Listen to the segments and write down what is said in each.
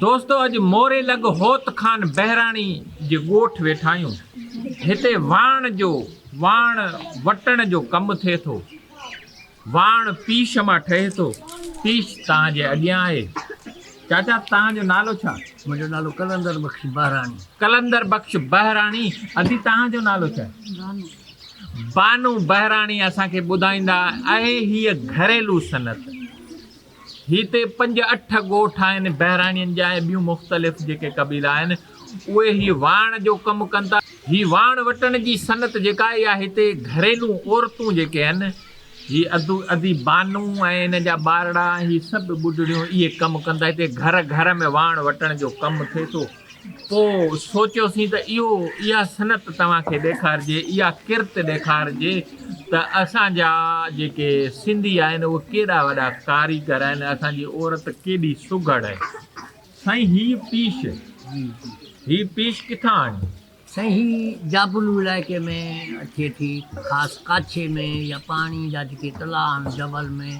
دوستو اڄ موري لڳ هوت خان بهراڻي جي ڳوٺ ويٺا آهيون. هتي واڻ جو، واڻ وٽڻ جو ڪم ٿئي ٿو. واڻ پيش مان ٺهي ٿو. پيش تان جي اڳيان آهي. چاچا تان جو نالو ڇا؟ منهنجو نالو قلندر بخش بهراڻي. قلندر بخش بهراڻي، ادي تان جو نالو ڇا؟ بانو. بانو بهراڻي اسان کي ٻڌائيندا اهي هيء گهريلو صنعت. هتي پنج اٺ ڳوٺ آهن، بهراڻين جا ۽ ٻيون مختلف جيڪي قبيلا آهن اهي هي واڻ جو ڪم ڪن ٿا. هي واڻ وٽڻ جي صنعت جيڪا اها هتي گهريلو عورتون جيڪي آهن هي ادي بانو ۽ انهن جا ٻارڙا هي سڀ ٻڍڙيون اهي ڪم ڪن ٿا. هتي گهر گهر ۾ واڻ وٽڻ جو ڪم ٿئي ٿو. پوء سوچيوسين ته اهو اها صنعت توهان کي ڏيکارجي، اها ڪرت ڏيکارجي ته اسان جا جيڪي سنڌي آهن اهي ڪيڏا وڏا ڪاريگر آهن ۽ اسان جي عورت ڪيڏي سگهڙ آهي. سائين هي پيش، هي پيش ڪٿان آڻي؟ سائين هي جابلو علائقي ۾ اچي ٿي خاص ڪاڇي ۾ يا پاڻي جا جيڪي تلاء آهن جبل ۾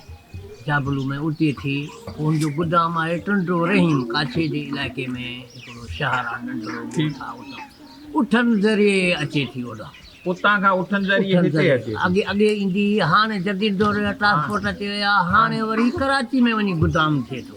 جابلو ۾ اتي ٿي ان جو گدام آهي ٽنڊو رحيم ڪاڇي جي علائقي ۾ هڪڙو شهر آهي ننڍڙو اٺن ذريعي اچي ٿي اوڏا اتان کان اٺن ذريعي هتي اچي اڳي اڳي ايندي هاڻي جديد دور جا ٽرانسپورٽ اچي ويا هاڻي وري ڪراچي ۾ وڃي گدام ٿئي ٿو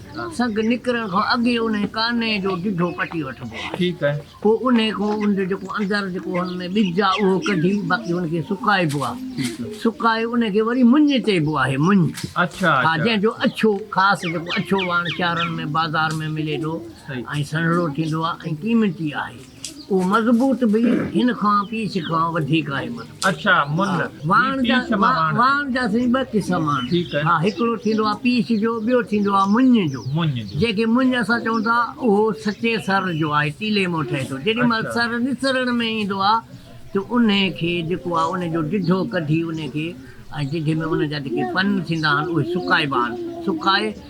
سنگ نڪرڻ کان اڳي انهي ڪاني جو ڊڍو پٽي وٺبو آهي پوء انهي کان ان جو جيڪو اندر جيڪو هن ۾ ٻج آهي اهو ڪڍي باقي ان کي سڪائبو آهي سڪائي انهي کي وري مڃ چئبو آهي مڃ ها جنهن جو اڇو خاص جيڪو اڇو واڻ شهرن ۾ بازار ۾ ملي ٿو ۽ سنهڙو ٿيندو آهي ۽ قيمتي آهي اهو مضبوط به هن کان پيس کان وڌيڪ آهي مل. اڇا مل واڻ جا پيس مان واڻ. واڻ جا سائين ٻه قسم آهن. ٺيڪ آهي. ها هڪڙو ٿيندو آهي پيس جو ٻيو ٿيندو آهي مڃ جو. مڃ جو. جنهن کي مڃ اسان چئون ٿا اهو سچي سر جو آهي تيلي مان ٺهي ٿو جيڏي مهل اڇا. سر نسرڻ ۾ ايندو آهي ته انهي کي جيڪو آهي انهي جو ڊڍو ڪڍي انهي کي ۽ ڊڍي ۾ ان جا جيڪي پن ٿيندا آهن اهي سڪائبا آهن سڪائي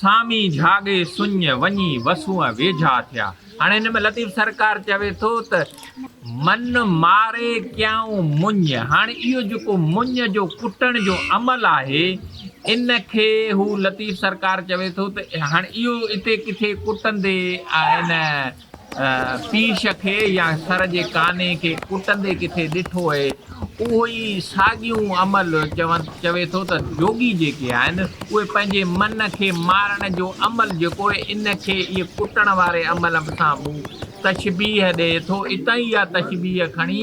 سامي جھاڳي سڃ وڃي وسونء ويجھا ٿيا. ھاڻي ھن ۾ لطيف سرڪار چوي ٿو ته، من ماري ڪيائون مڃ. ھاڻي اھو جيڪو مڃ جو ڪٽڻ جو عمل آھي، ان کي ھو لطيف سرڪار چوي ٿو ته، ھاڻي اھو اتي ڪٿي ڪٽندي ۽ ان پيش کي يا سر جي ڪاني کي ڪٽندي ڪٿي ڏٺو هئي، اهو ئي ساڳيون عمل چوي ٿو ته جوڳي جيڪي آهن، اهي پنهنجي من کي مارڻ جو عمل جيڪو هي، ان کي ئي ڪٽڻ واري عمل سان به تشبيهه ڏئي ٿو. اتان ئي اها تشبيهه کڻي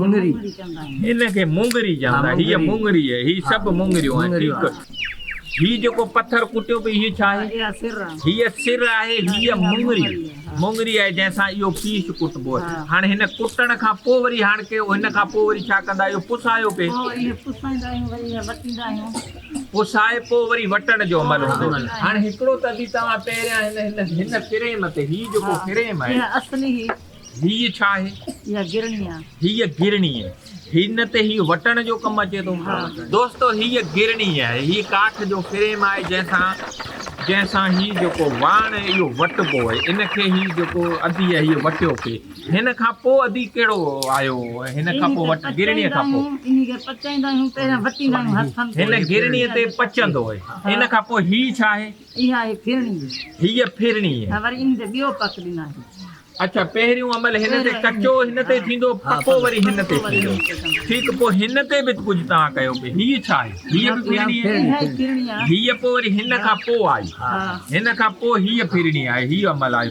مڱري هن کي مونگري چوندا هي مونگري هي هي سڀ مونگريون آهن ٺيڪ هي جيڪو پٿر ڪٽيو پئي هي ڇا آهي هي سر آهي هي مونگري مونگري آهي جنهن سان اهو پيس ڪٽبو آهي هاڻ هن ڪٽڻ کان پوء وري هاڻ ڪي هن کان پوء وري ڇا ڪندا اهو پسايو پئي پسائي پوء وري وٽڻ جو عمل هوندو هاڻ هڪڙو ته به توهان پهريان هن هن هن فريم تي هي جيڪو فريم آهي اصلي هيء ڇا آهي؟ اها گرڻي آهي. هيء گرڻي آهي. هي نه ته هيء وٽڻ جو ڪم اچي ٿو. دوستو هيء گرڻي آهي. هيء ڪاٺ جو فريم آهي جنهن سان جنهن سان هي جيڪو واڻ آهي اهو وٽبو آهي. ان کي هي جيڪو ادي آهي هيء وٽيو پئي. هن کان پوء ادي ڪهڙو آيو هن کان پوء وٽ گرڻي کان پوء. انهي کي پچائيندا آهيون پهريان وٽيندا آهيون هٿن تي. هن گرڻي تي پچندو آهي. ان کان پوء هي ڇا آهي؟ اها هي ڦرڻي هي. هيء ڦرڻي هي. ته وري ان تي ٻيو پڪ ڏنائين. اڇا پهريون عمل هن تي ڪچو هن تي ٿيندو پڪو وري هن تي ٿيندو. ٺيڪ پوء هن تي به ڪجهه توهان ڪيو پئي هيء ڇا آهي؟ هيء به ڦرڻي هي. اها ئي ڦرڻي آهي. هيء پوء وري هن کان پوء آئي. هن کان پوء هيء ڦرڻي آهي هيء عمل آهي.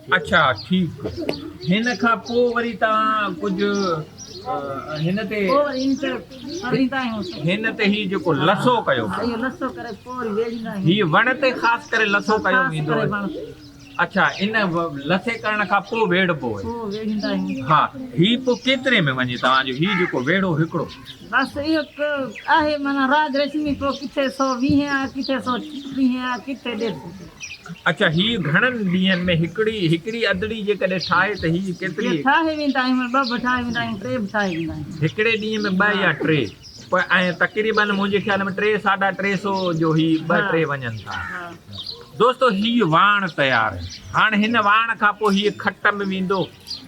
اڇا ٺيڪ هن کان پو وري توهان ڪجهه هن تي هن تي هي جيڪو لسو ڪيو هي وڻ تي خاص ڪري لسو ڪيو ويندو اڇا ان لسي ڪرڻ کان پو ويڙهبو ها هي پو ڪيتري ۾ وڃي توهان جو هي جيڪو ويڙهو هڪڙو بس هڪ آهي معنيٰ راج رشمي پو ڪٿي 120 آهي ڪٿي 130 آهي ڪٿي 150 اڇا هي گهڻن ڏينهن ۾ هڪڙي هڪڙي ادڙي جيڪڏهن ٺاهي ته هي ڪيتري. هي ٺاهي ويندا آهيون مون ٻه به ٺاهي ويندا آهيون ٽي به ٺاهي ويندا آهيون. هڪڙي ڏينهن ۾ ٻه يا ٽي پ ۽ تقريباً منهنجي خيال ۾ ٽي ساڍا ٽي سو جو هي ٻه ٽي وڃن ٿا. دوستو هي واڻ تيار هاڻ هن واڻ کان پوء هي کٽ م ويندو.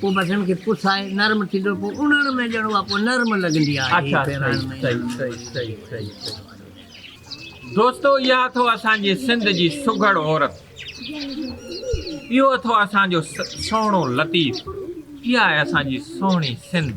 پوء بسن کي پسائي نرم ٿيندو پوء اڙڻ ۾ ڄڻ اها پوء نرم لڳندي آهي. دوستو اها اٿو اسان جي سنڌ جي سگهڙ عورت اهو اٿو اسان جو سهڻو لطيف اها آهي اسان جي سهڻي سنڌ.